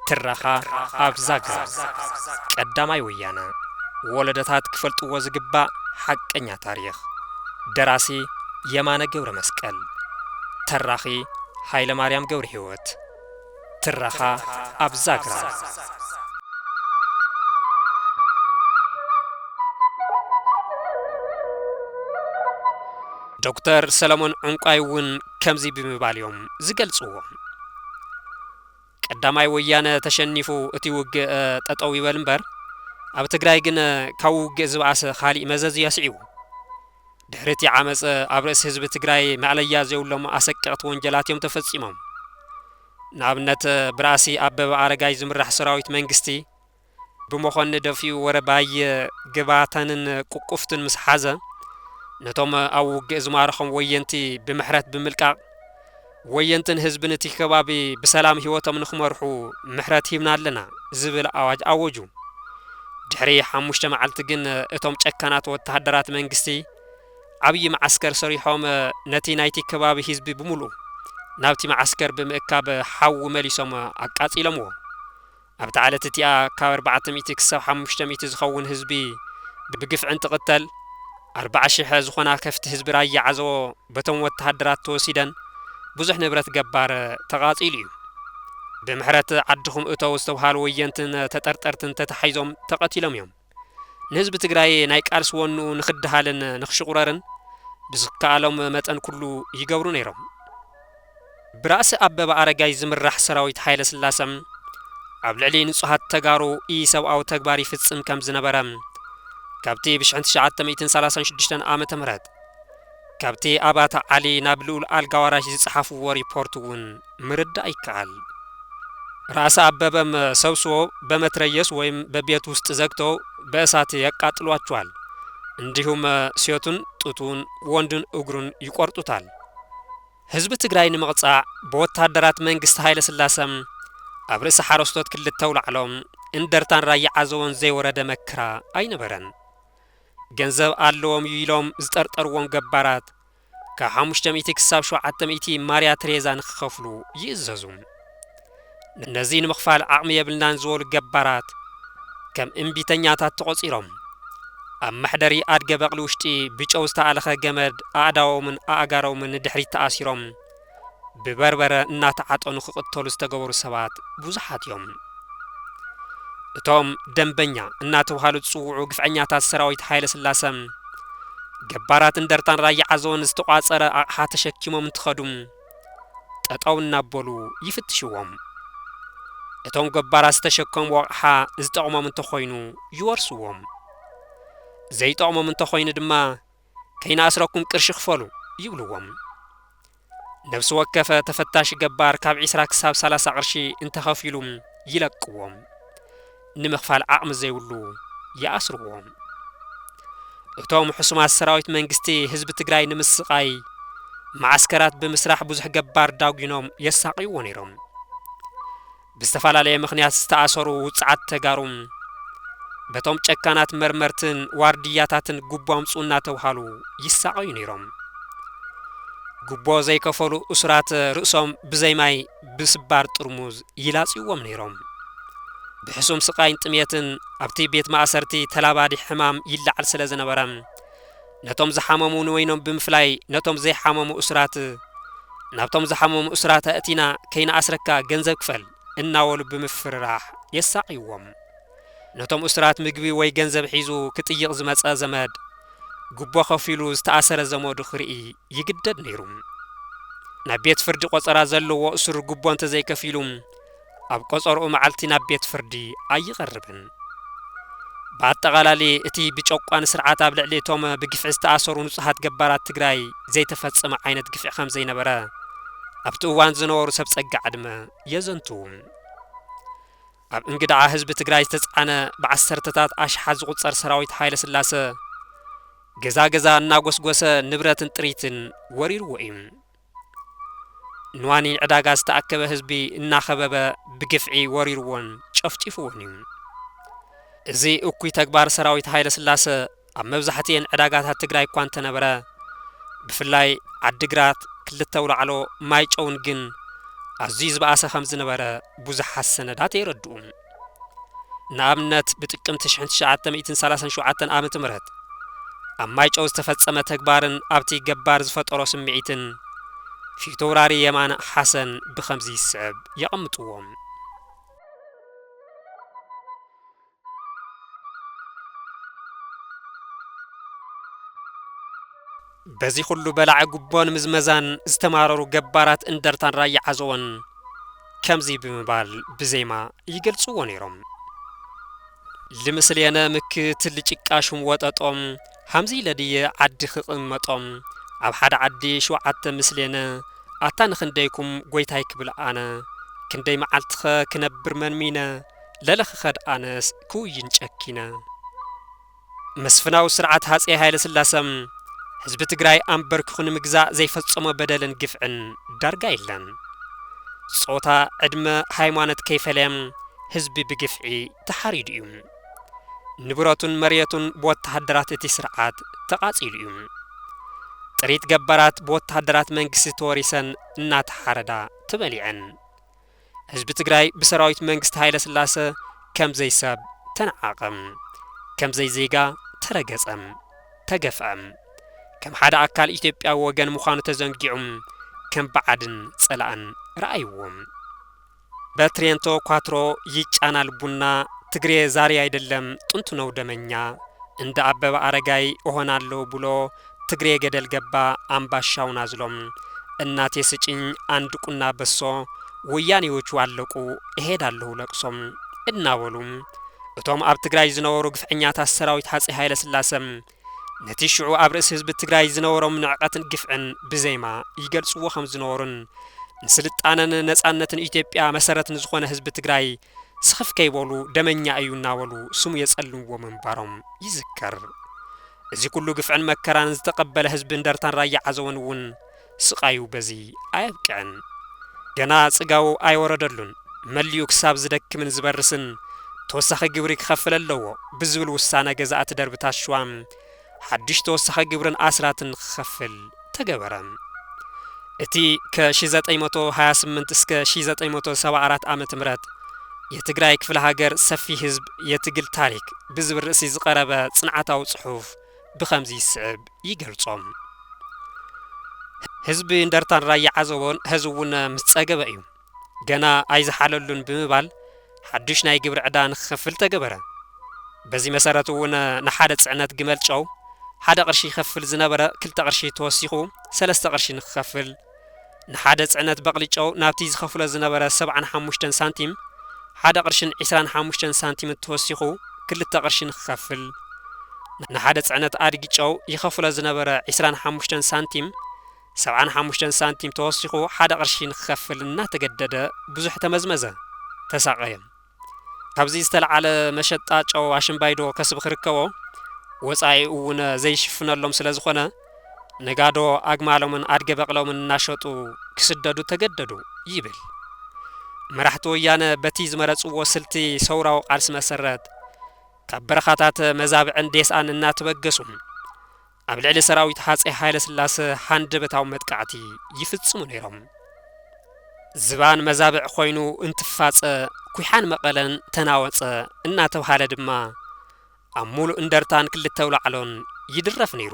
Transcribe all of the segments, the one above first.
ትረኻ ኣብ ዛግራ ቀዳማይ ወያነ ወለደታት ክፈልጥዎ ዝግባእ ሓቀኛ ታሪኽ ደራሲ የማነ ገብረ መስቀል ተራኺ ሃይለ ማርያም ገብረ ህይወት ትረኻ ኣብ ዛግራ። ዶክተር ሰለሞን ዑንቋይ እውን ከምዚ ብምባል እዮም ዝገልፅዎ። ቀዳማይ ወያነ ተሸኒፉ እቲ ውግእ ጠጠው ይበል እምበር ኣብ ትግራይ ግን ካብ ውግእ ዝበኣሰ ካሊእ መዘዝ እዩ ኣስዒቡ። ድሕሪ እቲ ዓመፅ ኣብ ርእሲ ህዝቢ ትግራይ መዕለያ ዘይብሎም ኣሰቀቕቲ ወንጀላት እዮም ተፈፂሞም። ንኣብነት ብራእሲ ኣበበ ኣረጋይ ዝምራሕ ሰራዊት መንግስቲ ብመኾኒ ደፊኡ ወረባይ ግባተንን ቁቁፍትን ምስ ሓዘ ነቶም ኣብ ውግእ ዝማረኾም ወየንቲ ብምሕረት ብምልቃቕ ወየንትን ህዝብን እቲ ከባቢ ብሰላም ህይወቶም ንክመርሑ ምሕረት ሂብና ኣለና ዝብል ኣዋጅ ኣወጁ። ድሕሪ ሓሙሽተ መዓልቲ ግን እቶም ጨካናት ወተሃደራት መንግስቲ ዓብዪ መዓስከር ሰሪሖም ነቲ ናይቲ ከባቢ ህዝቢ ብምሉኡ ናብቲ መዓስከር ብምእካብ ሓዊ መሊሶም ኣቃፂሎምዎ። ኣብታ ዓለት እቲኣ ካብ ኣርባዕተ ሚእቲ ክሳብ ሓሙሽተ ሚእቲ ዝኸውን ህዝቢ ብግፍዒ እንትቕተል፣ ኣርባዓ ሽሐ ዝኾና ከፍቲ ህዝቢ ራያ ዓዘቦ በቶም ወተሃደራት ተወሲደን ብዙሕ ንብረት ገባር ተቓፂሉ እዩ። ብምሕረት ዓድኹም እተው ዝተብሃሉ ወየንትን ተጠርጠርትን ተታሒዞም ተቐቲሎም እዮም። ንህዝቢ ትግራይ ናይ ቃልሲ ወንኡ ንክደሃልን ንክሽቑረርን ብዝከኣሎም መጠን ኩሉ ይገብሩ ነይሮም። ብራእሲ ኣበበ ኣረጋይ ዝምራሕ ሰራዊት ሃይለስላሰ ኣብ ልዕሊ ንፁሃት ተጋሩ ኢሰብኣዊ ተግባር ይፍፅም ከምዝነበረ ካብቲ ብ ትሽዓተ ሚእትን ሰላሳን ሽዱሽተን ዓመተ ምህረት ካብቲ ኣብ ኣቶ ዓሊ ናብ ልኡል ኣልጋዋራሽ ዝጸሓፍዎ ሪፖርት እውን ምርዳእ ይከኣል። ራእሲ ኣበበም ሰብስዎ በመትረየስ ወይም በቤት ውስጥ ዘግተው በእሳት ያቃጥሏቸዋል። እንዲሁም ሴቱን ጡቱን ወንዱን እግሩን ይቆርጡታል። ህዝቢ ትግራይ ንምቕጻዕ ብወታደራት መንግስቲ ሃይለስላሰም ኣብ ርእሲ ሓረስቶት ክልተ ኣውላዕሎም እንደርታን ራያ ዓዘቦን ዘይወረደ መከራ ኣይነበረን። ገንዘብ ኣለዎም እዩ ኢሎም ዝጠርጠርዎም ገባራት ካብ ሓሙሽተ ሚእቲ ክሳብ ሸውዓተ ሚእቲ ማርያ ትሬዛ ንክኸፍሉ ይእዘዙ። ነዚ ንምኽፋል ዓቕሚ የብልናን ዝበሉ ገባራት ከም እምቢተኛታት ተቖፂሮም ኣብ መሕደሪ ኣድገ በቕሊ ውሽጢ ብጨው ዝተኣለኸ ገመድ ኣእዳዎምን ኣእጋሮምን ንድሕሪት ተኣሲሮም ብበርበረ እናተዓጠኑ ክቕተሉ ዝተገበሩ ሰባት ብዙሓት እዮም። እቶም ደምበኛ እናተብሃሉ ዝፅውዑ ግፍዐኛታት ሰራዊት ሃይለስላሰ፣ ገባራት እንደርታን ራያ ዓዘቦን ዝተቋፀረ ኣቕሓ ተሸኪሞም እንትኸዱ ጠጠው እናበሉ ይፍትሽዎም። እቶም ገባራት ዝተሸከምዎ ኣቕሓ ዝጠቕሞም እንተኾይኑ ይወርስዎም። ዘይጠቕሞም እንተኾይኑ ድማ ከይንኣስረኩም ቅርሺ ክፈሉ ይብልዎም። ነብሲ ወከፈ ተፈታሺ ገባር ካብ ዒስራ ክሳብ ሰላሳ ቅርሺ እንተኸፊሉ ይለቅዎ። ንምኽፋል ዓቕሚ ዘይብሉ ይኣስርዎ። እቶም ሕሱማት ሰራዊት መንግስቲ ህዝቢ ትግራይ ንምስቓይ መዓስከራት ብምስራሕ ብዙሕ ገባር ዳጒኖም የሳቕይዎ ነይሮም። ብዝተፈላለየ ምኽንያት ዝተኣሰሩ ውፅዓት ተጋሩ በቶም ጨካናት መርመርትን ዋርድያታትን ጉቦ ኣምፅኡ እናተብሃሉ ይሳቐዩ ነይሮም። ጉቦ ዘይከፈሉ እሱራት ርእሶም ብዘይ ማይ ብስባር ጥርሙዝ ይላፅዩዎም ነይሮም። ብሕሱም ስቓይን ጥምየትን ኣብቲ ቤት ማእሰርቲ ተላባዲ ሕማም ይለዓል ስለዝነበረ፣ ነቶም ዝሓመሙ ንወይኖም ብምፍላይ ነቶም ዘይሓመሙ እሱራት ናብቶም ዝሓመሙ እሱራት ኣእቲና ከይንኣስረካ ገንዘብ ክፈል እናበሉ ብምፍርራሕ የሳቕይዎም። ነቶም እሱራት ምግቢ ወይ ገንዘብ ሒዙ ክጥይቕ ዝመጸ ዘመድ ጉቦ ከፊሉ ዝተኣሰረ ዘመዱ ክርኢ ይግደድ ነይሩ። ናብ ቤት ፍርዲ ቆጸራ ዘለዎ እሱር ጉቦ እንተዘይከፊሉ ኣብ ቆጸርኡ መዓልቲ ናብ ቤት ፍርዲ ኣይቐርብን። ብኣጠቓላሊ እቲ ብጨቋኒ ስርዓት ኣብ ልዕሊ እቶም ብግፍዒ ዝተኣሰሩ ንጹሃት ገባራት ትግራይ ዘይተፈጸመ ዓይነት ግፍዒ ከምዘይነበረ ኣብቲ እዋን ዝነበሩ ሰብ ጸጋ ዕድመ የዘንትዉ። ኣብ እንግድዓ ህዝቢ ትግራይ ዝተጽዓነ ብዓሰርተታት ኣሽሓት ዝቑጸር ሰራዊት ሃይለስላሰ ገዛ ገዛ እናጎስጎሰ ንብረትን ጥሪትን ወሪርዎ እዩ። ንዋኒ ዕዳጋ ዝተኣከበ ህዝቢ እናኸበበ ብግፍዒ ወሪሩዎን ጨፍጪፉዎን እዩ። እዚ እኩይ ተግባር ሰራዊት ሃይለስላሰ ኣብ መብዛሕቲኤን ዕዳጋታት ትግራይ እኳ እንተነበረ ብፍላይ ዓዲግራት፣ ክልተ ኣውላዕሎ፣ ማይጨውን ግን ኣዝዩ ዝበኣሰ ከምዝነበረ ብዙሓት ሰነዳት የረድኡ። ንኣብነት ብጥቅምቲ ሽሕን ትሽዓተ ሚእትን ሰላሳን ሸውዓተን ዓመተ ምህረት ኣብ ማይጨው ዝተፈጸመ ተግባርን ኣብቲ ገባር ዝፈጠሮ ስምዒትን ፊተውራሪ የማነ ሓሰን ብኸምዚ ይስዕብ የቐምጥዎም። በዚ ኩሉ በላዒ ጉቦን ምዝመዛን ዝተማረሩ ገባራት እንደርታን ራያ ዓዘቦን ከምዚ ብምባል ብዜማ ይገልጽዎ ነይሮም። ልምስሌነ ምክ ትል ጭቃ ሹም ወጠጦ ሃምዚ ኢለ ድየ ዓዲ ክቕመጦ ኣብ ሓደ ዓዲ ሸውዓተ ምስሌነ ኣታ ንኽንደይኩም ጎይታይ ክብል ኣነ ክንደይ መዓልቲኸ ክነብር መንሚነ ለለ ክኸድ ኣነስ ክውይን ጨኪነ መስፍናዊ ስርዓት ሃፀይ ሃይለስላሰ ህዝቢ ትግራይ ኣምበርኪኹ ንምግዛእ ዘይፈፀሞ በደልን ግፍዕን ዳርጋ የለን። ፆታ፣ ዕድመ፣ ሃይማኖት ከይፈለየ ህዝቢ ብግፍዒ ተሓሪዱ እዩ። ንብረቱን መሬቱን ብወታሃደራት እቲ ስርዓት ተቓፂሉ እዩ። ጥሪት ገባራት ብወታሃደራት መንግስቲ ተወሪሰን እናተሓረዳ ተበሊዐን። ህዝቢ ትግራይ ብሰራዊት መንግስቲ ሃይለስላሰ ከም ዘይሰብ ተነዓቐ። ከም ዘይዜጋ ተረገጸ። ተገፍዐ። ከም ሓደ ኣካል ኢትዮጵያዊ ወገን ምዃኑ ተዘንጊዑ ከም ባዕድን ጸላእን ረኣይዎ። በትሬንቶ ኳትሮ ይጫናል ቡና ትግሬ ዛሬ ኣይደለም ጥንቱ ነው ደመኛ እንደ ኣበበ ኣረጋይ እሆናለሁ ብሎ ትግሬ ገደል ገባ ኣምባሻው ናዝሎም እናቴ ስጭኝ ኣንድ ቁና በሶ ወያኔዎቹ ኣለቁ እሄዳለሁ ለቅሶ እናበሉ እቶም ኣብ ትግራይ ዝነበሩ ግፍዐኛታት ሰራዊት ሃፀይ ሃይለስላሰ ነቲ ሽዑ ኣብ ርእሲ ህዝቢ ትግራይ ዝነበሮም ንዕቀትን ግፍዕን ብዜማ ይገልፅዎ ከም ዝነበሩን ንስልጣነን ነፃነትን ኢትዮጵያ መሰረት ንዝኾነ ህዝቢ ትግራይ ስኽፍ ከይበሉ ደመኛ እዩ እናበሉ ስሙ የጸልምዎ ምንባሮም ይዝከር። እዚ ኩሉ ግፍዕን መከራን ዝተቐበለ ህዝቢ እንደርታን ራያ ዓዘቦን እውን ስቓዩ በዚ ኣየብቅዕን። ገና ጽጋቡ ኣይወረደሉን መሊኡ ክሳብ ዝደክምን ዝበርስን ተወሳኺ ግብሪ ክኸፍል ኣለዎ ብዝብል ውሳነ ገዛእቲ ደርብታት ሽዋ፣ ሓድሽ ተወሳኺ ግብርን ኣስራትን ንክኸፍል ተገበረ። እቲ ከ ሺህ ዘጠኝ መቶ ሃያ ስምንት እስከ ሺህ ዘጠኝ መቶ ሰባ ኣራት ዓመተ ምህረት የትግራይ ክፍለ ሃገር ሰፊ ህዝብ የትግል ታሪክ ብዝብል ርእሲ ዝቐረበ ጽንዓታዊ ጽሑፍ ብኸምዚ ዝስዕብ ይገልጾ። ህዝቢ እንደርታን ራያ ዓዘቦን ሐዚ እውን ምስ ጸገበ እዩ። ገና ኣይዝሓለሉን ብምባል ሓዱሽ ናይ ግብሪ ዕዳ ንክኸፍል ተገበረ። በዚ መሰረት እውን ንሓደ ፅዕነት ግመል ጨው ሓደ ቅርሺ ይኸፍል ዝነበረ ክልተ ቅርሺ ተወሲኹ ሰለስተ ቅርሺ ንክኸፍል፣ ንሓደ ፅዕነት በቕሊ ጨው ናብቲ ዝኸፍሎ ዝነበረ ሰብዓን ሓሙሽተን ሳንቲም ሓደ ቅርሽን ዒስራን ሓሙሽተን ሳንቲምን ተወሲኹ ክልተ ቅርሺ ንክኸፍል፣ ንሓደ ፅዕነት ኣድጊ ጨው ይኸፍሎ ዝነበረ ዒስራን ሓሙሽተን ሳንቲም፣ ሰብዓን ሓሙሽተን ሳንቲም ተወሲኹ ሓደ ቅርሺ ንክኸፍል እናተገደደ ብዙሕ ተመዝመዘ፣ ተሳቐየ። ካብዚ ዝተልዓለ መሸጣ ጨው ኣሽምባይዶ ከስቢ ክርከቦ፣ ወጻኢኡ'ውነ ዘይሽፍነሎም ስለ ዝኾነ፣ ነጋዶ ኣግማሎምን ኣድገ በቕሎምን እናሸጡ ክስደዱ ተገደዱ ይብል። መራሕቲ ወያነ በቲ ዝመረጽዎ ስልቲ ሰውራዊ ቃልሲ መሰረት፣ ካብ በረኻታት መዛብዕን ዴስኣን እናተበገሱ፣ ኣብ ልዕሊ ሰራዊት ሃጸይ ሃይለስላሰ ሃንደበታዊ መጥቃዕቲ ይፍጽሙ ነይሮም። ዝባን መዛብዕ ኮይኑ እንትፋጸ፣ ኩሓን መቐለን ተናወጸ እናተብሃለ ድማ ኣብ ሙሉእ እንደርታን ክልተ ኣውላዕሎን ይድረፍ ነይሩ።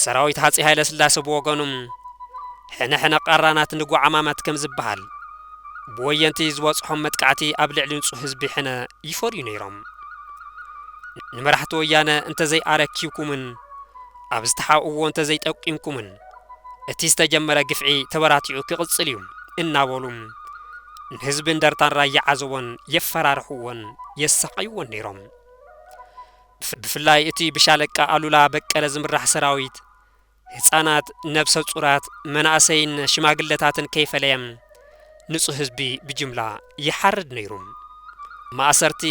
ሰራዊት ሃጸይ ሃይለስላሰ ብወገኑ ሕነ ሕነ ቃራናት ንጓዓማማት ከም ዝበሃል፣ ብወየንቲ ዝበጽሖም መጥቃዕቲ ኣብ ልዕሊ ንጹህ ህዝቢ ሕነ ይፈርዩ ነይሮም። ንመራሕቲ ወያነ እንተዘይ ኣረኪብኩምን ኣብ ዝተሓብእዎ እንተዘይ ጠቂምኩምን እቲ ዝተጀመረ ግፍዒ ተበራቲዑ ክቕጽል እዩ እናበሉ ንህዝቢ እንደርታን ራያ ዓዘቦን የፈራርሕዎን የሳቐይዎን ነይሮም። ብፍላይ እቲ ብሻለቃ ኣሉላ በቀለ ዝምራሕ ሰራዊት ህጻናት፣ ነብሰ-ጹራት፣ መናእሰይን ሽማግለታትን ከይፈለየ ንጹህ ህዝቢ ብጅምላ ይሓርድ ነይሩ። ማእሰርቲ፣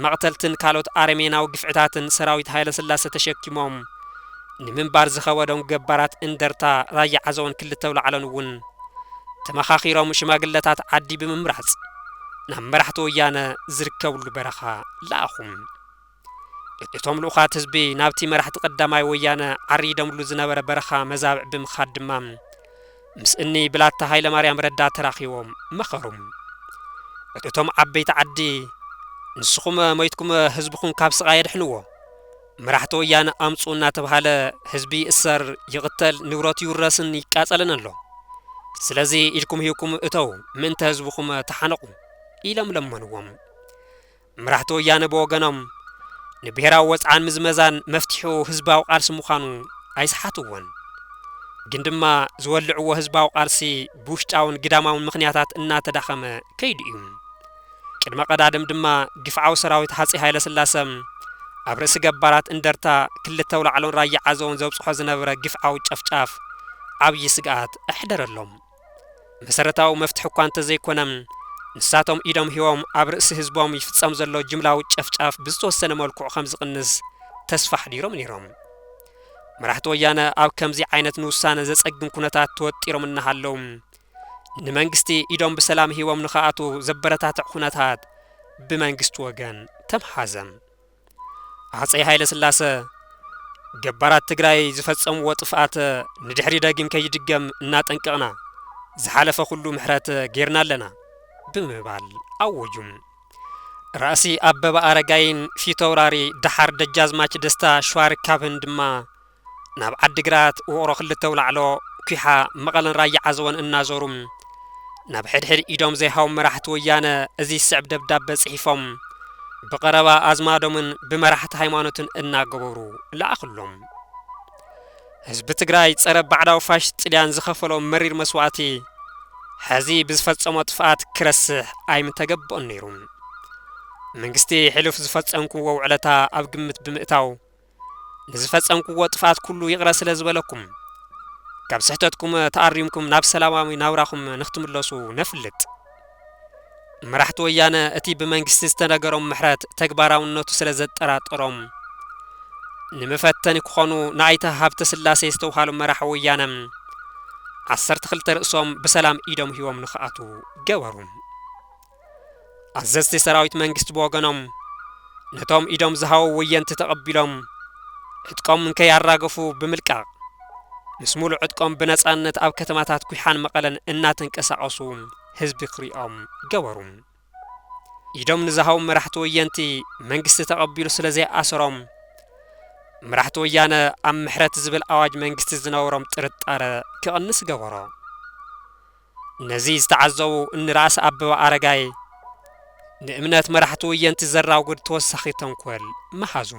መቕተልትን ካልኦት ኣረሜናዊ ግፍዕታትን ሰራዊት ሃይለስላሰ ተሸኪሞም ንምንባር ዝኸበዶም ገባራት እንደርታ፣ ራያ ዓዘቦን ክልተ ኣውላዕሎን እውን ተመኻኺሮም ሽማግለታት ዓዲ ብምምራጽ ናብ መራሕቲ ወያነ ዝርከብሉ በረኻ ለኣኹ። እቶም ልኡኻት ህዝቢ ናብቲ መራሕቲ ቀዳማይ ወያነ ዓሪዶምሉ ዝነበረ በረኻ መዛብዕ ብምኻድ ድማ ምስ እኒ ብላታ ሃይለማርያም ረዳ ተራኺቦም መኸሩ። እቶም ዓበይቲ ዓዲ ንስኹመ ሞይትኩመ ህዝብኹም ካብ ስቓይ ኣድሕንዎ፣ መራሕቲ ወያነ ኣምፅኡ እናተብሃለ ህዝቢ ይእሰር፣ ይቕተል፣ ንብረቱ ይውረስን ይቃፀልን ኣሎ። ስለዚ ኢድኩም ሂብኩም እተዉ፣ ምእንተ ህዝብኹመ ተሓነቑ ኢሎም ለመንዎም። መራሕቲ ወያነ ብወገኖም፣ ንብሄራዊ ወጽዓን ምዝመዛን መፍትሒኡ ህዝባዊ ቃልሲ ምዃኑ ኣይሰሓትዎን። ግን ድማ ዝወልዕዎ ህዝባዊ ቃልሲ ብውሽጣውን ግዳማውን ምኽንያታት እናተዳኸመ ከይዱ እዩ። ቅድመ ቀዳድም ድማ ግፍዓዊ ሰራዊት ሃጸይ ሃይለስላሰ ኣብ ርእሲ ገባራት እንደርታ፣ ክልተ ኣውላዕሎን ራያ ዓዘቦን ዘብጽሖ ዝነበረ ግፍዓዊ ጨፍጫፍ ዓብዪ ስግኣት ኣሕደረሎም። መሰረታዊ መፍትሒ እኳ እንተዘይኮነ፣ ንሳቶም ኢዶም ሂቦም ኣብ ርእሲ ህዝቦም ይፍጸም ዘሎ ጅምላዊ ጨፍጫፍ ብዝተወሰነ መልክዑ ከም ዝቕንስ ተስፋ ኣሕዲሮም ነይሮም። መራሕቲ ወያነ ኣብ ከምዚ ዓይነት ንውሳነ ዘጸግም ኩነታት ተወጢሮም እናሃለዉ፣ ንመንግስቲ ኢዶም ብሰላም ሂቦም ንኽኣትው ዘበረታትዕ ኩነታት ብመንግስቲ ወገን ተምሓዘ። ሃፀይ ሃይለስላሰ ገባራት ትግራይ ዝፈፀምዎ ጥፍኣት ንድሕሪ ደጊም ከይድገም እናጠንቀቕና ዝሓለፈ ኩሉ ምሕረት ጌርና ኣለና ብምባል ኣወጁ። ራእሲ ኣበበ ኣረጋይን ፊተውራሪ ደሓር ደጃዝማች ደስታ ሸዋርካብህን ድማ ናብ ዓዲግራት፣ ውቕሮ ክልተ ኣውላዕሎ፣ ኲሓ፣ መቐለን ራያ ዓዘቦን እናዞሩ ናብ ሕድሕድ ኢዶም ዘይሃቦም መራሕቲ ወያነ እዚ ዝስዕብ ደብዳበ ፅሒፎም ብቐረባ ኣዝማዶምን ብመራሕቲ ሃይማኖትን እናገበሩ ለኣኽሎም። ህዝቢ ትግራይ ፀረ ባዕዳዊ ፋሽስት ጥልያን ዝኸፈሎ መሪር መስዋእቲ ሕዚ ብዝፈፀሞ ጥፍኣት ክረስሕ ኣይምተገበኦን ነይሩ። መንግስቲ ሕሉፍ ዝፈፀምኩምዎ ውዕለታ ኣብ ግምት ብምእታው ንዝፈጸምኩዎ ጥፍኣት ኩሉ ይቕረ ስለ ዝበለኩም ካብ ስሕተትኩም ተኣሪምኩም ናብ ሰላማዊ ናብራኹም ንክትምለሱ ነፍልጥ። መራሕቲ ወያነ እቲ ብመንግስቲ ዝተነገሮም ምሕረት ተግባራውነቱ ስለ ዘጠራጠሮም ንመፈተኒ ክኾኑ ንኣይተ ሃብተ ስላሴ ዝተውሃሉ መራሒ ወያነ ዓሰርተ ክልተ ርእሶም ብሰላም ኢዶም ሂቦም ንክኣትዉ ገበሩ። ኣዘዝቲ ሰራዊት መንግስቲ ብወገኖም ነቶም ኢዶም ዝሃቡ ወየንቲ ተቐቢሎም ዕጥቆም እንከይኣራገፉ ብምልቃቕ ምስ ሙሉእ ዕጥቆም ብነፃነት ኣብ ከተማታት ኩሓን መቐለን እናተንቀሳቐሱ ህዝቢ ክሪኦም ገበሩ። ኢዶም ንዝሃቡ መራሕቲ ወየንቲ መንግስቲ ተቐቢሉ ስለ ዘይኣሰሮም መራሕቲ ወያነ ኣብ ምሕረት ዝብል ኣዋጅ መንግስቲ ዝነበሮም ጥርጣረ ክቕንስ ገበሮ። ነዚ ዝተዓዘቡ እኒ ራእሲ ኣበበ ኣረጋይ ንእምነት መራሕቲ ወየንቲ ዘራጉድ ተወሳኺ ተንኮል መሃዙ።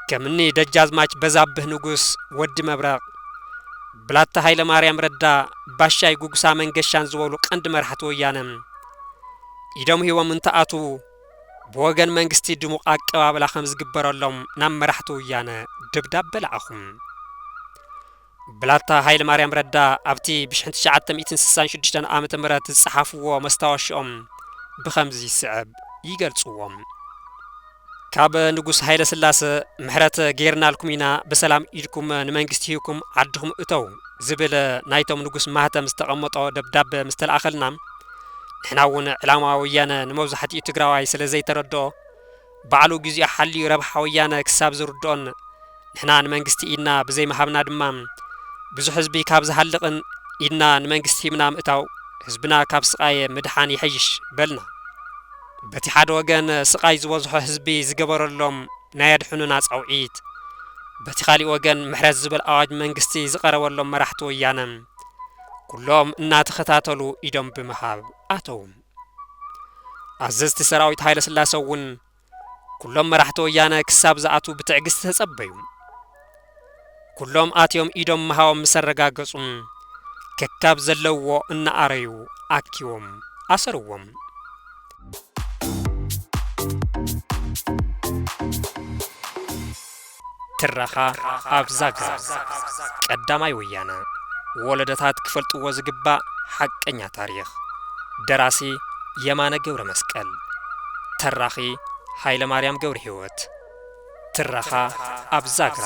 ከም እኒ ደጃዝማች በዛብህ ንጉስ፣ ወዲ መብረቕ፣ ብላታ ሃይለማርያም ረዳ፣ ባሻይ ጉግሳ መንገሻን ዝበሉ ቀንዲ መራሕቲ ወያነ ኢዶም ሂቦም እንትኣትዉ ብወገን መንግስቲ ድሙቕ ኣቀባብላ ከም ዝግበረሎም ናብ መራሕቲ ወያነ ደብዳበ ለኣኹ። ብላታ ሃይለማርያም ረዳ ኣብቲ ብ ሽሕን ትሽዓተ ሚእትን ስሳን ሽዱሽተን ዓመተ ምህረት ዝጸሓፍዎ መስታወሽኦም ብኸምዚ ዝስዕብ ይገልጽዎ። ካብ ንጉስ ሃይለስላሰ ምሕረት ገይርናልኩም ኢና ብሰላም ኢድኩም ንመንግስቲ ሂብኩም ዓድኹም እተዉ ዝብል ናይቶም ንጉስ ማህተም ዝተቐመጦ ደብዳበ ምስ ተልኣኸልና ንሕና'ውን ዕላማ ወያነ ንመብዛሕትኡ ትግራዋይ ስለዘይተረድኦ ባዕሉ ግዚኡ ሓልዩ ረብሓ ወያነ ክሳብ ዝርድኦን ንሕና ንመንግስቲ ኢድና ብዘይምሃብና ድማ ብዙሕ ህዝቢ ካብ ዝሃልቕን ኢድና ንመንግስቲ ሂብና ምእታው ህዝብና ካብ ስቓየ ምድሓን ይሐይሽ በልና። በቲ ሓደ ወገን ስቓይ ዝበዝሖ ህዝቢ ዝገበረሎም ናይ ኣድሕኑና ጻውዒት፣ በቲ ካሊእ ወገን ምሕረት ዝብል ኣዋጅ መንግስቲ ዝቐረበሎም መራሕቲ ወያነ ኩሎም እናተኸታተሉ ኢዶም ብምሃብ ኣተዉ። ኣዘዝቲ ሰራዊት ሃይለስላሰ እውን ኩሎም መራሕቲ ወያነ ክሳብ ዝኣትዉ ብትዕግስቲ ተጸበዩ። ኩሎም ኣትዮም ኢዶም ምሃቦም ምስ ኣረጋገጹ ከካብ ዘለውዎ እናኣረዩ ኣኪቦም ኣሰርዎም። ትረኻ ኣብ ዛግራ ቀዳማይ ወያነ ወለዶታት ክፈልጥዎ ዝግባእ ሓቀኛ ታሪኽ ደራሲ የማነ ገብረመስቀል ተራኺ ሃይለማርያም ገብርሂወት ትረኻ ኣብ ዛግራ